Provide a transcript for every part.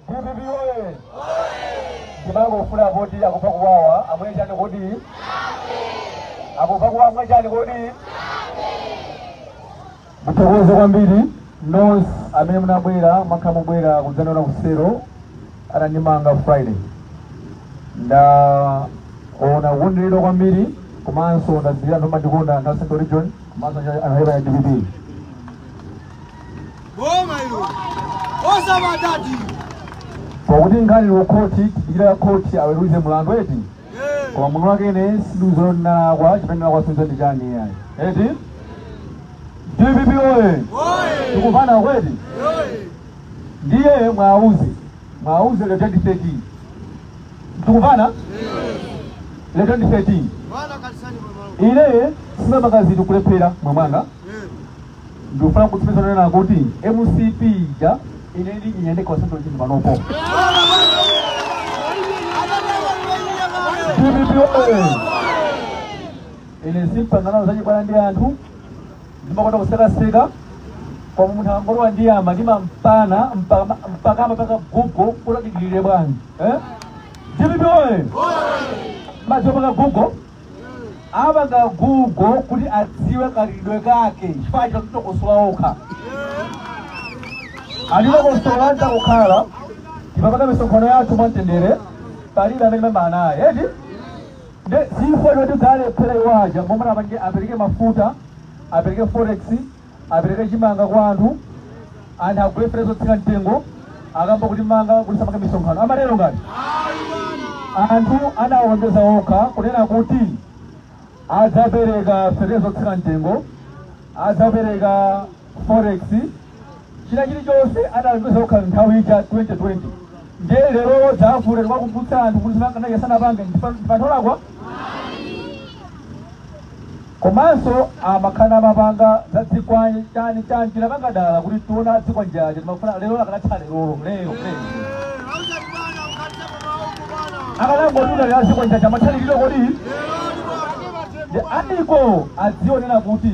dpp oye ndimangofuna poti akumva kuwawa amwe chani kodi akumva kuwawa amwe chani kodi ndithokoze kwambiri nonse amene munabwera mwakhala mukubwera kudzandiona ku selo anandimanga friday ndaona unyinji wa anthu kwambiri komanso ndadziwa kuti anthu amandikonda anthu a central region komanso anthu a chipani cha dpp Boma hilo. Osamaopa. pakuti nkhani ili ku khoti tidikira khoti aweruze mlandu eti Eh. koma munthu wake ine sindikudziwa ndinalakwa chimene ndinalakwa sindikudziwa ndi chani iyayi eti dpp oye Oye. tikumvana eti Oye. ndiye muwauze muwauze za 2013 tikumvana za 2013 ine sindimakondatu kulephera moyo wanga ndikufuna kutsimikiza kunena kuti mcp ija ine ndiiyenda ku central region panopo dpp oye ine sindipanga nawo zachibwana ndi anthu ndimakonda kusekaseka koma munthu akangondiyamba ndimampana mpaka mpaka amapanga google kuti adikirire bwanji eh? dpp oye muziwapanga google apange google kuti adziwe khalidwe kake chifukwa anatitokosola okha anatitokosola takhala tikupanga misonkhano yathu mwamtendere palibe amene timayambana naye eti Nde chifukwa choti adalephera iwo aja momwe anapangira apereke mafuta apereke forex apereke chimanga kwa anthu anthu agule feteleza wotsika mtengo ayamba kutimanga kuti tisamapange misonkhano amatero ngati anthu analonjeza okha kunena kuti adzapereka fertilizer wotsika mtengo adzapereka forex china chilichonse analonjeza okha nthawi ija 2020 ndiye lero tizafuna tikuwakumbutsa anthu kuti zimene sanapange tikhale anthu olakwa komanso amakhala amapanga za zikwanje chani chani tinapanga dala kuti tione zikwanje zija timafuna lero akanatha lerolo lero lero akanangotuluka lero zikwanje zija amatha lerolo kodi ndi anakadzionera kuti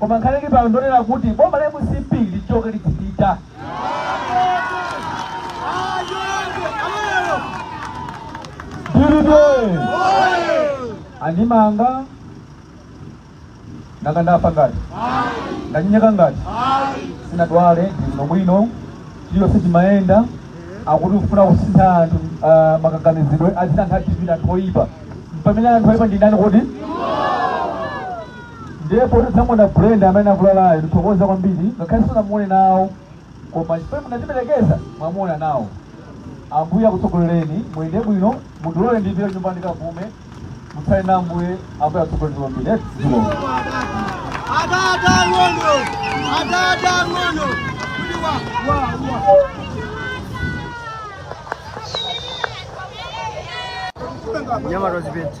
Koma nkhani ili pano ndonena kuti boma la mcp lichoke libwere DPP andimanga nanga ndafa ngati ndanyenyeka ngati sinadwale ndili bwino chiliyo sichimayenda akungofuna kusintha anthu ah, kaganizidwe adziona anthu a DPP ndi anthu oyipa pamene anthu oyipa ndi ndani kodi Ndiye poti tamuona Brenda amene akulalayo, ndithokoza kwambiri ngakhale sinamuone nawo, koma chifukwa munatiperekeza mwamuona nawo. Ambuye akutsogolereni, muyende bwino, mundilole ndipite kunyumba ndikapume, mutsale na Ambuye, Ambuye akutsogolereni kwambiri. Eti, zikomo. Adada ng'ono, adada ng'ono, kuti wa wa wa. Nyama rozipeti.